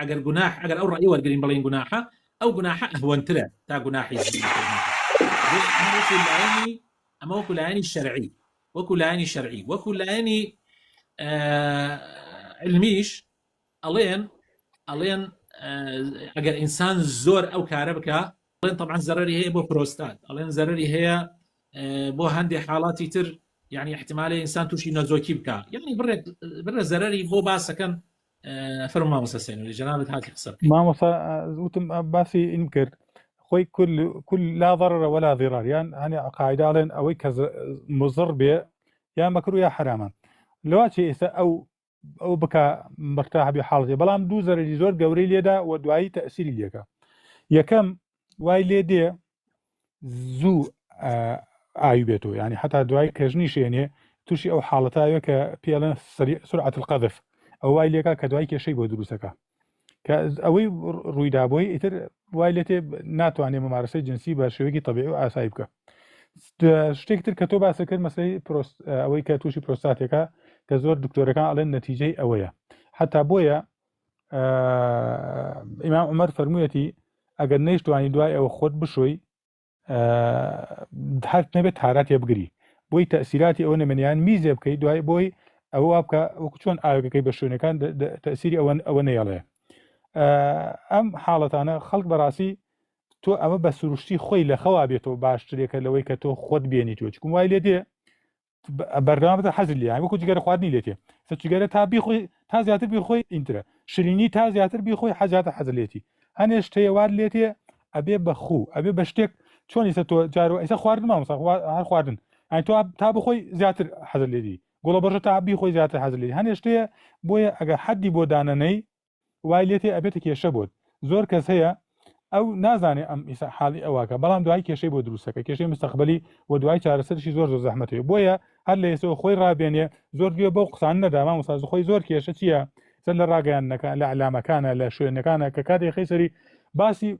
ئەگەر گوناح ئەگەر ئەو ڕەئی وەرگرین بڵێین گوناحە ئەو گوناحە ئەهوەنترە تا گوناحی زینا کردن بۆ ئەمە وەکو لایەنی ئەمە وەکو لایەنی شەرعی وەکو لایەنی شەرعی وەکو لایەنی علمیش ئەڵێن ئەڵێن ئەگەر ئینسان زۆر ئەو کارە بکە بڵێن طبعا زەرری هەیە بۆ پرۆستات ئەڵێن زەرری هەیە بۆ هەندێک حاڵاتی تر یعنی احتمالە ئینسان تووشی نەزۆکی بکە یعنی بڕێت بڕە زەرری بۆ باسەکەن فەرمو مامۆستا سینوری جەنابت هاتی قسە بکەی مامۆستا وتم باسی ئین کرد خۆی کل کل لا ضرر ولا ضرار یان هەنێ قاعدە ئەڵێن ئەوەی کە ز- مضر بێ یا مەکرو یا حرامە لەوا چی ئێستا ئەو ئەو بکا مرتاح بێ حاڵێ بەڵام دوو زەرری زۆر گەورەی لێدا و دوایی تەسیری لێکە یەکەم وای لێ دێ زوو ئاوی بێتەوە ینی حتا دوای کەژنی شێنێ تووشی ئەو حاڵەتاوێ کە پێڵێن سرعەت قەدف ئەو وای لێکا کە دوای کێشەی بۆ دروستەکە کە ئەوەی ڕوویدا بۆی ئیتر وای لێتێ ناتوانێت مەمارەسەی جنسی بە شێوەیەکی تەبیع و ئاسایی بکە شتێک تر کە تۆ باسە کرد مەسەی پرۆست ئەوەی کە تووشی پرۆستاتێکە کە زۆر دکتۆرەکان ئەڵێن نەتیجەی ئەوەیە حتا بۆیە ئیمام عمر فەرموویەتی ئەگەر نەیشتوانی دوای ئەوە خۆت بشۆی هەر نەبێت تاراتێ بگری بۆی تەسیراتی ئەوە نەمەنیان میزێ بکەی دوای بۆی ئەوە وا بکە وەکو چۆن ئاوەکەکەی بە شوێنەکان تەسیری ئەوە ئەوە نەیەڵێ ئەم حاڵەتانە خەڵک بەڕاستی تۆ ئەمە بە سروشتی خۆی لە خەوا بێتەوە باشترێکە لەوەی کە تۆ خۆت بێنیتوە چکم وای لێ دێ بەردەوام بە حەزر لیان وەکو جگەرە خواردنی لێتێ سە جگەرە تا بیخۆی تا زیاتر بیخۆی ئینترە شرینی تا زیاتر بیخۆی حەزیاتە حەزر لێتی هەنێ شتەیەوار لێتێ ئەبێ بەخوو ئەبێ بە شتێک چۆنی سە تۆ جارو ئەیسە خواردن مامسا هەر خواردن ئەین تۆ تا بخۆی زیاتر حەزر لێدی گوڵە بەژە تا بیخۆی زیاتر حەزر لێ هەنێ شتەیە بۆیە ئەگەر حەدی بۆ دانەنەی وای لێتێ ئەبێتە کێشە بۆت زۆر کەس هەیە ئەو نازانێ ئەم ئیسا حاڵی ئەوواکە بەڵام دوای کێشەی بۆ دروستەکە کێشەی مستەقبلی و دوای چارەسەرشی زۆر زۆر زەحمەتی بۆیە هەر لە ئێسەوە خۆی ڕابێنێ زۆر گوێ بەو قسان نەداما مساز خۆی زۆر کێشە چییە سەر لە ڕاگەیانەکە لە علامەکانە لە شوێنەکانە کە کاتێک خەیسەری باسی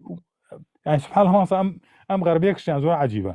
سبحان هەڵسە ئەم ئەم غەربێکشیان زۆر عجیبە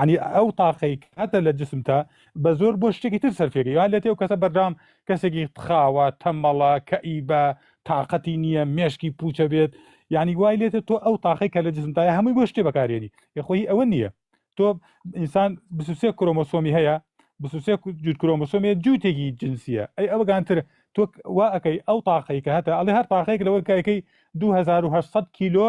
عنی ئەو تاقەی هەتە لە جسمتە بە زۆر بۆ شتێکی تر سەرفێکی یا لە تێو کەسە بەردام کەسێکی تخاوە تەمەڵە کەئی بە تااقەتی نییە مێشکی پوچە بێت یعنی وای لێتە تۆ ئەو تاقی کە لە جسمدای هەمووی بۆ شتێ بەکارێنی یخۆی ئەوە نییە تۆ ئینسان بسوسێ کرۆمۆسۆمی هەیە بسوسێ جووت کرۆمۆسۆمی جووتێکی جنسیە ئەی ئەوگانتر تۆ وا ئەەکەی ئەو تاقی کە هەتا ئەڵێ هەر تاقێک لەوەکایەکەی 2800 کیلۆ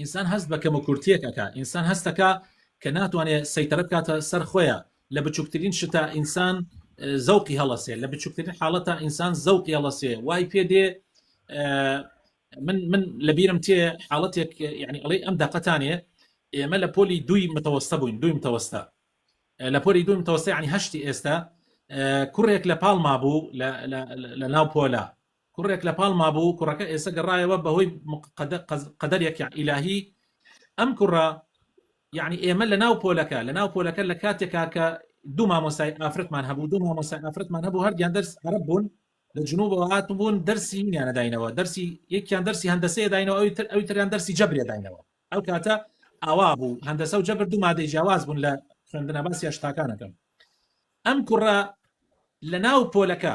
ئینسان هەست بە کەموکورتیەک ئەکا ئینسان هەستەکا کە ناتوانێ سەیتەرە بکاتە سەر خۆیا لە بچوکترین شتا ئینسان زەوقی هەڵەسێ لە بچوکترین حاڵەتا ئینسان زەوقی هەڵەسێ وای پێ دێ من من لە بیرم تێ حاڵەتێک یعنی ئەڵێ ئەم دەقەتانێ ئێمە لە پۆلی دوی متەوەستە بووین دوی متەوەستە لە پۆلی دوی متەوەستی عنی هەشتی ئێستا کوڕێک لە پاڵما بوو لە ناو پۆلا کوڕێک لە پاڵ مابوو کوڕەکە ئێسە گەڕایەوە بەهۆی قەدەرێک یان ئیلاهی ئەم کوڕە یعنی ئێمە لە ناو پۆلەکە لە ناو پۆلەکە لە کاتێکا کە دوو مامۆسای ئافرەتمان هەبوو دوو مامۆسای ئافرەتمان هەبوو هەردیان دەرس عرب بوون لە جنوبەوە هاتم بوون دەرسی نیانەداینەوە دەرسی یەکیان دەرسی هەندەسەیە داینەوە ئەوی تر ئەوی تریان دەرسی جەبرێ داینەوە ئەو کاتە ئاوا بوو هەندەسە و جەبر دوو مادەی جیاواز بوون لە خوێندنە باسی هەشتاکانەکەم ئەم کوڕە لە ناو پۆلەکە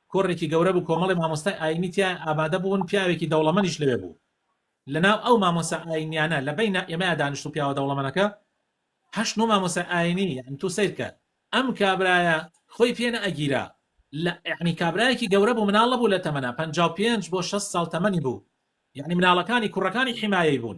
کۆڕێکی گەورە بوو کۆمەڵێ مامۆستای ئاینی تیایا ئامادە بوون پیاوێکی دەوڵەمەنیش لەوێ بوو لە ناو ئەو مامۆسا ئاینیانە لە بەینا ئێمەیا دانیشتوو پیاوە دەوڵەمەنەکە هەشت نۆ مامۆسای ئاینی یان تو سەیر کە ئەم کابرایە خۆی پێ نە ئەگیرا لە یعنی کابرایەکی گەورە بوو مناڵە بوو لە تەمەنا پەنجا و پێنج بۆ شەست ساڵ تەمەنی بوو یعنی مناڵەکانی کوڕەکانی حیمایەی بوون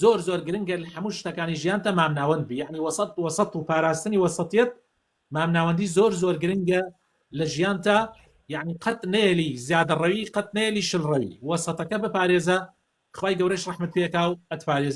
زۆر زۆر گرنگە لە هەموو شتەکانی ژیانتا مامناوەند بی یەعنی وەسەت وەسەت و پاراستنی وەسەتیەت مامناوەندی زۆر زۆر گرنگە لە ژیانتا یەعنی قەت نەیەلی زیادەڕەوی قەت نەیەلی شلڕەوی وەسەتەکە بپارێزە خوای گەورەش ڕەحمت پێکاو ئەتپارێزێ.